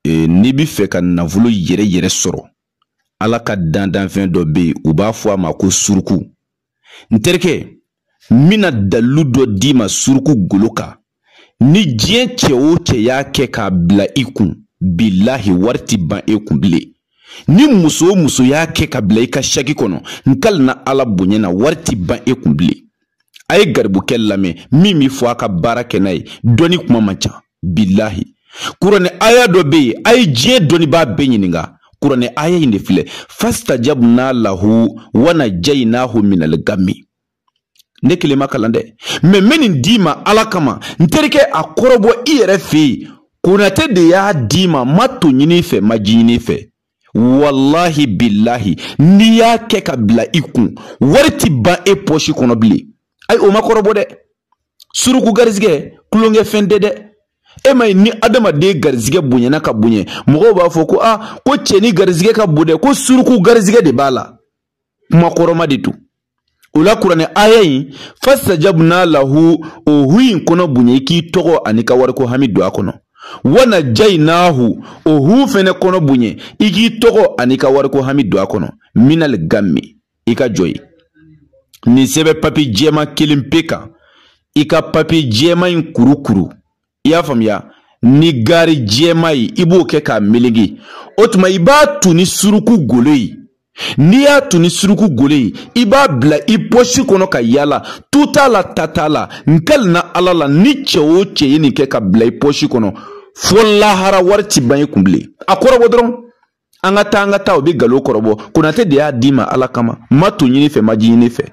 e, n'i bɛ fɛ ka nafolo yɛrɛ yɛrɛ sɔrɔ ala ka dandanfɛn dɔ bɛ yen u b'a fɔ a ma ko suruku n terikɛ n bɛna dalilu dɔ d'i ma suruku golo kan ni diɲɛ cɛ o cɛ y'a kɛ k'a bila i kun bilahi wari ti ban e kun bilen ni muso o muso y'a kɛ k'a bila i ka saki kɔnɔ n kalina ala bonya na wari ti ban e kun bilen a ye garibukɛ lamɛn min bɛ fɔ a ka baara kɛ n'a ye dɔnni kuma man ca bilahi kuranɛ aya dɔ bɛ yen a ye diɲɛ dɔnnibaa bɛɛ ɲininka kuranɛ aya in de filɛ fastajabna lahu wa najaynahu minal gammi ne kelen m'a kalan dɛ mɛ n bɛ nin d'i ma ala kama n terikɛ a kɔrɔbɔ i yɛrɛ fɛ yen konate de y'a d'i ma n ma to ɲin'i fɛ n ma ji ɲin'i fɛ walahi bilahi n'i y'a kɛ k'a bila i kun wari ti ban e pɔsi kɔnɔ bilen ayi o ma kɔrɔbɔ dɛ suruku garizigɛ tulonkɛfɛn tɛ dɛ e m'a ye ni adamaden garizigɛ bonyana ka bonya mɔgɔw b'a fɔ ko a ko cɛ nin garizigɛ ka bon dɛ ko suruku garizigɛ de b'a la kuma kɔrɔma de don o la kuranɛ aya in fastajabna lahu o hu in kɔnɔ bonya i k'i tɔgɔ ani i ka wariko hami don a kɔnɔ wa najaynahu o hu fɛnɛ kɔnɔ bonya i k'i tɔgɔ ani i ka wariko hami don a kɔnɔ minal gammi i ka jɔ ye nin sɛbɛ papi jɛma kelen pe kan i ka papi jɛma in kurukuru i y'a faamuya ni gari jɛma ye i b'o kɛ k'a melege o tuma i b'a tu ni suruku golo ye n'i y'a tu ni suruku golo ye i b'a bila i pɔsi kɔnɔ ka yaala tu t'a la ta t'a la n kalina ala la ni cɛ o cɛ ye nin kɛ k'a bila i pɔsi kɔnɔ fo lahara wari ti ban i kun bilen a kɔrɔbɔ dɔrɔn an ka taa an ka taa o bɛ galo kɔrɔbɔ konate de y'a d'i ma ala kama n ma to ɲin'i fɛ n ma ji ɲin'i fɛ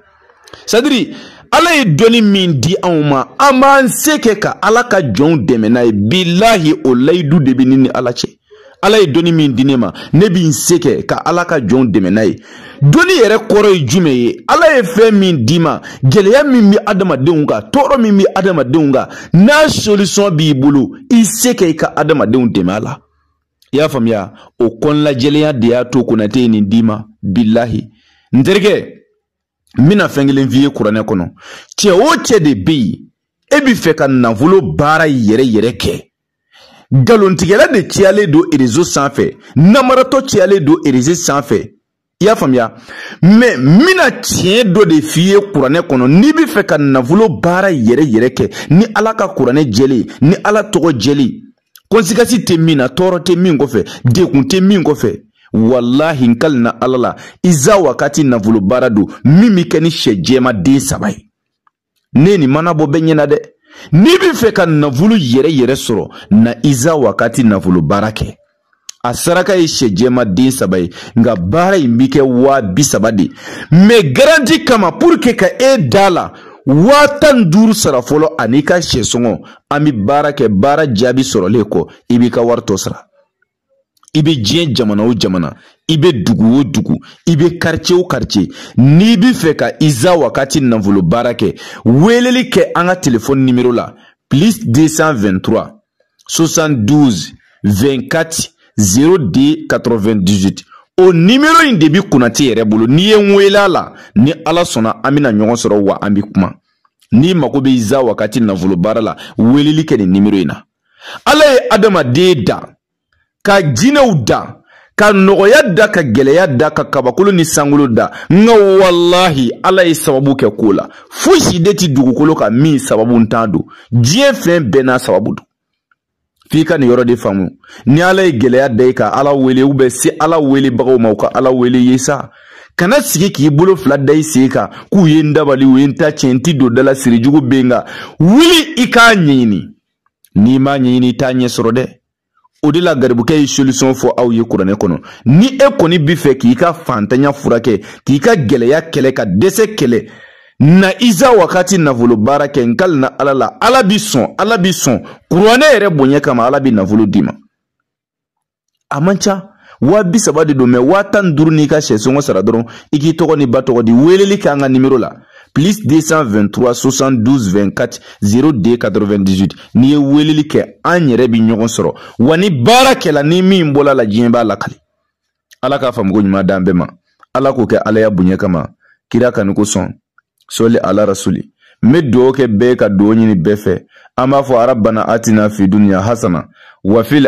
sadiri ala ye dɔnni min di anw ma an b'an se kɛ ka ala ka jɔnw dɛmɛ n'a ye bilahi o layidu de bɛ ne ni ala cɛ ala ye dɔnni min di ne ma ne bɛ n se kɛ ka ala ka jɔnw dɛmɛ n'a ye dɔnni yɛrɛ kɔrɔ ye jumɛn ye ala ye fɛn min d'i ma gɛlɛya min bɛ adamadenw kan tɔɔrɔ min bɛ adamadenw kan n'a solisɔn b'i bolo i se kɛ i ka adamadenw dɛmɛ a la i y'a faamuya o kɔnɔnajɛlenya de y'a to konate ye nin d'i ma bilahi n terikɛ n bɛna fɛn kelen f'i ye kuranɛ kɔnɔ cɛ o cɛ de bɛ yen e bɛ fɛ ka nafolo baara yɛrɛ yɛrɛ kɛ galontigɛla de cayalen don erezo sanfɛ namaratɔ cayalen don erezo sanfɛ i y'a faamuya mɛ n bɛna tiɲɛ dɔ de f'i ye kuranɛ kɔnɔ n'i bɛ fɛ ka nafolo baara yɛrɛ yɛrɛ kɛ ni ala ka kuranɛ jɛlen ye ni ala tɔgɔ jɛlen ye kɔnsikasi tɛ min na tɔɔrɔ tɛ min kɔfɛ dekun tɛ min kɔfɛ walahi n kalina ala la iza wakati nafolo baara don min bɛ kɛ ni sɛ jɛma den saba ye ne nin mana bɔ bɛɛ ɲɛna dɛ n'i bɛ fɛ ka nafolo yɛrɛ yɛrɛ sɔrɔ na iza wakati nafolo baara kɛ a saraka ye sɛ jɛma den saba ye nka baara in bɛ kɛ waa bi saba de mais garanti kama pour que ka e da la waa tan ni duuru sara fɔlɔ an'i ka sɛ sɔngɔ an bɛ baara kɛ baara jaabi sɔrɔlen kɔ i b'i ka wari tɔ sara i bɛ diɲɛ jamana o jamana i bɛ dugu o dugu i bɛ quartier o quartier n'i bɛ fɛ ka iza wakati nafolo baara kɛ weeleli kɛ an ka telefɔni nimero la plus 223 72 24 02 98 o nimero in de bɛ konate yɛrɛ bolo n'i ye n weele a la ni ala sɔnna an bɛna ɲɔgɔn sɔrɔ wa an bɛ kuma n'i mago bɛ iza wakati nafolo baara la weeleli kɛ nin nimero in na ala ye adamaden da ka jinɛw da ka nɔgɔya da ka gɛlɛya da ka kabakolo ni sankolo da nka walahi ala ye sababu kɛ ko la fosi de ti dugukolo kan min sababu ntan don diɲɛ fɛn bɛɛ n'a sababu don f'i ka nin yɔrɔ de faamu ni ala ye gɛlɛya da i ka ala wele ou bien se ala welebagaw ma u ka ala wele i ye sa kana sigi k'i bolo fila da i sen kan k'u ye n dabali u ye n ta tiɲɛ n ti don da la siri jugu bɛ n kan wuli i k'a ɲɛɲini n'i m'a ɲɛɲini i t'a ɲɛ sɔrɔ dɛ o de la garibukɛ ye solution fɔ aw ye kuranɛ kɔnɔ ni e kɔni bi fɛ k'i ka fantanya furakɛ k'i ka gɛlɛya kɛlɛ ka dɛsɛ kɛlɛ na iza wakati nafolo baara kɛ n kalina ala la ala bi sɔn ala bi sɔn kuranɛ yɛrɛ bonya kama ala bi nafolo d'i ma a man ca waa bi saba de don mais waa tan ni duuru n'i ka sɛ sɔngɔ sara dɔrɔn i k'i tɔgɔ n'i ba tɔgɔ di weeleli kɛ an ka nimero la plus 223 72 24 02 98 n'i ye weeleli kɛ an yɛrɛ bi ɲɔgɔn sɔrɔ wa ni baara kɛla ni min bɔl'a la diɲɛ b'a lakali ala k'a faamuko ɲuman d'an bɛɛ ma ala k'o kɛ alaya bonya kama kira kanu kosɔn sɔli ala rasuli n bɛ dugawu kɛ bɛɛ ka dugawu ɲini bɛɛ fɛ an b'a fɔ arabana atina fi duniya hasana wafil